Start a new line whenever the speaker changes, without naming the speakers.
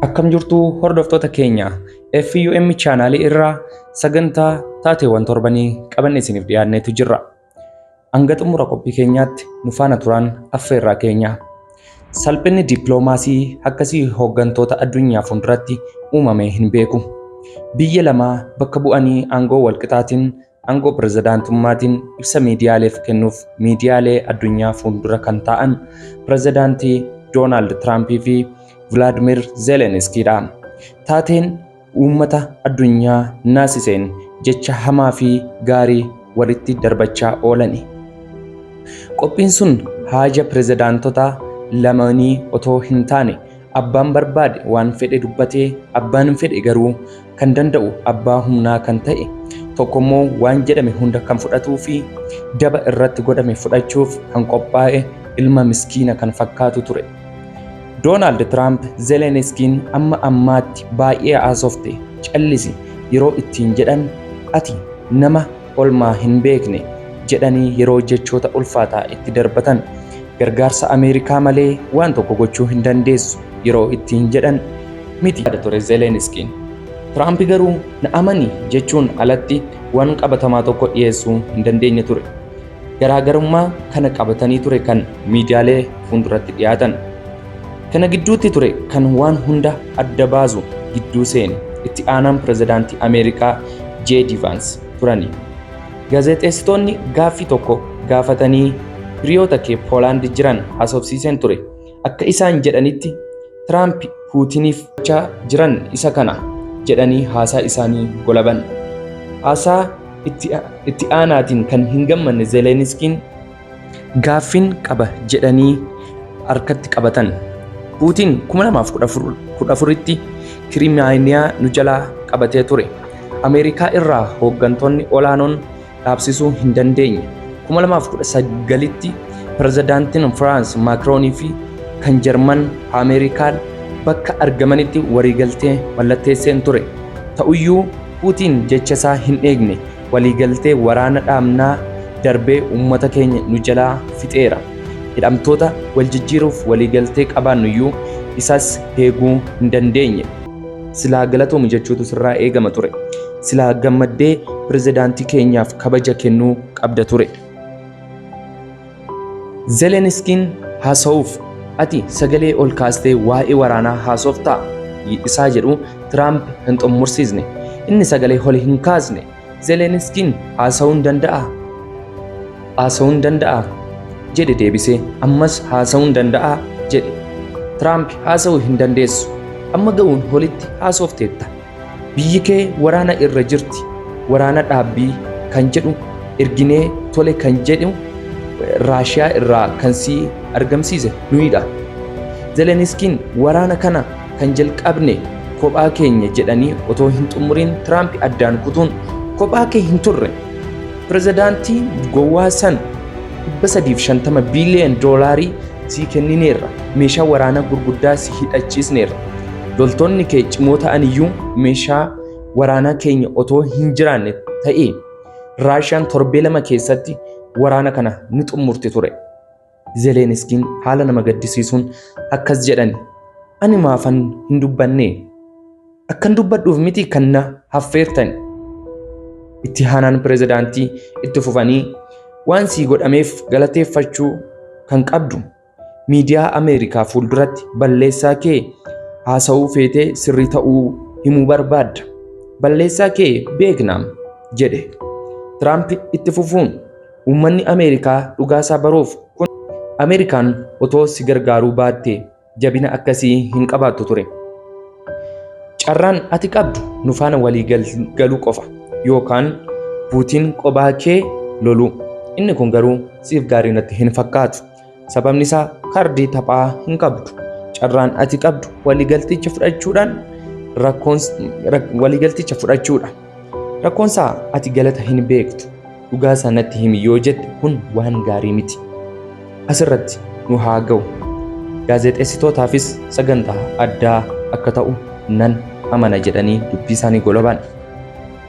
Akkam jirtu hordoftoota keenya FUM chaanaalii irraa sagantaa taateewwan torbanii qabanne isiniif dhiyaanneetu jirra. Hanga xumura qophii keenyaatti nu faana turaan affeerraa keenya. Salphinni dippiloomaasii akkasii hooggantoota addunyaa fuulduratti uumamee hin beeku. Biyya lamaa bakka bu'anii aangoo walqixaatiin Aangoo pirezidaantummaatiin ibsa miidiyaaleef kennuuf miidiyaalee addunyaa fuuldura kan taa'an pirezidaantii Doonaald Tiraampii fi Vilaadimir Zeeleniskiidha. Taateen uummata addunyaa naasiseen jecha hamaa fi gaarii walitti darbachaa oolani. Qophiin sun haaja pirezidaantota lamaanii otoo hin taane Abbaan barbaade waan fedhe dubbatee abbaan hin fedhe garuu kan danda'u abbaa humnaa kan ta'e tokko immoo waan jedhame hunda kan fudhatuu fi daba irratti godhame fudhachuuf kan qophaa'e ilma miskiina kan fakkaatu ture. Doonaald Tiraamp Zeleniskiin amma ammaatti baay'ee haasofte callisi yeroo ittiin jedhan ati nama olmaa hin beekne jedhanii yeroo jechoota ulfaataa itti darbatan gargaarsa Ameerikaa malee waan tokko gochuu hin dandeessu yeroo ittiin jedhan miti yaada ture Zeleniskiin. Tiraampi garuu na amani jechuun alatti waan qabatamaa tokko dhiyeessuu hin dandeenye ture. Garaagarummaa kana qabatanii ture kan miidiyaalee fuulduratti dhiyaatan. Kana gidduutti ture kan waan hunda adda baasu gidduu seene itti aanaan pirezidaantii Ameerikaa JD Vance turani. Gaazexeessitoonni gaaffii tokko gaafatanii hiriyoota kee Poolaandi jiran haasofsiiseen ture. Akka isaan jedhanitti Tiraamp Puutiniif gochaa jiran isa kana jedhanii haasaa isaanii golaban. Haasaa itti aanaatiin kan hin gammanne Zeleniskiin Gaaffin qaba jedhanii harkatti qabatan. Puutiin 2014tti Kirimaaniyaa nu jalaa qabatee ture. Ameerikaa irraa hooggantoonni olaanoon dhaabsisuu hin dandeenye. 2019tti pirezidaantiin Firaans Maakroonii fi kan Jarman Ameerikaa bakka argamanitti waliigaltee mallatteesseen ture. Ta'uyyuu Puutiin jechasaa hin eegne. Waliigaltee waraana dhaabnaa darbee uummata keenya nu jalaa fixeera. Hidhamtoota wal jijjiiruuf waliigaltee qabaannuyyuu isas heeguu hin dandeenye. Silaa galatoomi jechuutu sirraa eegama ture. Silaa gammaddee pirezidaantii keenyaaf kabaja kennuu qabda ture. Zeleniskiin haasa'uuf ati sagalee ol kaastee waa'ee waraanaa haasoftaa? isaa jedhu Tiraamp hin xumursiisne. Inni sagalee ol hin kaasne. Zeleniskiin haasa'uun danda'aa? Haasa'uun danda'aa? jedhe deebisee. Ammas haasa'uun danda'aa? jedhe. Tiraamp haasa'uu hin dandeessu. Amma ga'uun olitti haasofteetta. Biyyi kee waraana irra jirti, waraana dhaabbii kan jedhu erginee tole kan jedhu Raashiyaa irraa kan si argamsiise nuyidha. Zeleniskiin waraana kana kan jalqabne kophaa keenya jedhanii otoo hin xumuriin Tiraamp addaan kutuun kophaa kee hin turre. Pirezidaantii gowwaa san 350 biiliyoon doolaarii sii kennineerra, meeshaa waraanaa gurguddaa si hidhachiisneerra. Loltoonni kee cimoo ta'an iyyuu meeshaa waraanaa keenya otoo hin jiraanne ta'ee Raashiyaan torbee lama keessatti waraana kana ni xumurti ture. Zeleniskiin haala nama gaddisiisuun akkas jedhani. Ani maafan hin dubbannee? Akkan dubbadhuuf miti kan na haffeertan. Itti haanaan pirezidaantii itti fufanii waan sii godhameef galateeffachuu kan qabdu miidiyaa Ameerikaa fuulduratti balleessaa kee haasa'uu feetee sirrii ta'uu himuu barbaadda. Balleessaa kee beeknaam jedhe. Tiraamp itti fufuun uummanni Ameerikaa dhugaasaa baruuf kun Ameerikaan otoo si gargaaruu baatte jabina akkasii hin qabaattu ture. Carraan ati qabdu nu faana walii galuu qofa yookaan buutiin qobaa kee loluu. Inni kun garuu siif gaarii natti hin fakkaatu. Sababni isaa kaardii taphaa hin qabdu. Carraan ati qabdu waliigalticha fudhachuudhaan rakkoon waliigalticha fudhachuudha. Rakkoon isaa ati galata hin beektu. Dhugaa isaa natti himi yoo jette kun waan gaarii miti. Asirratti nu haa ga'u. Gaazexeessitootaafis sagantaa addaa akka ta'u nan amana jedhanii dubbii isaanii golobaan.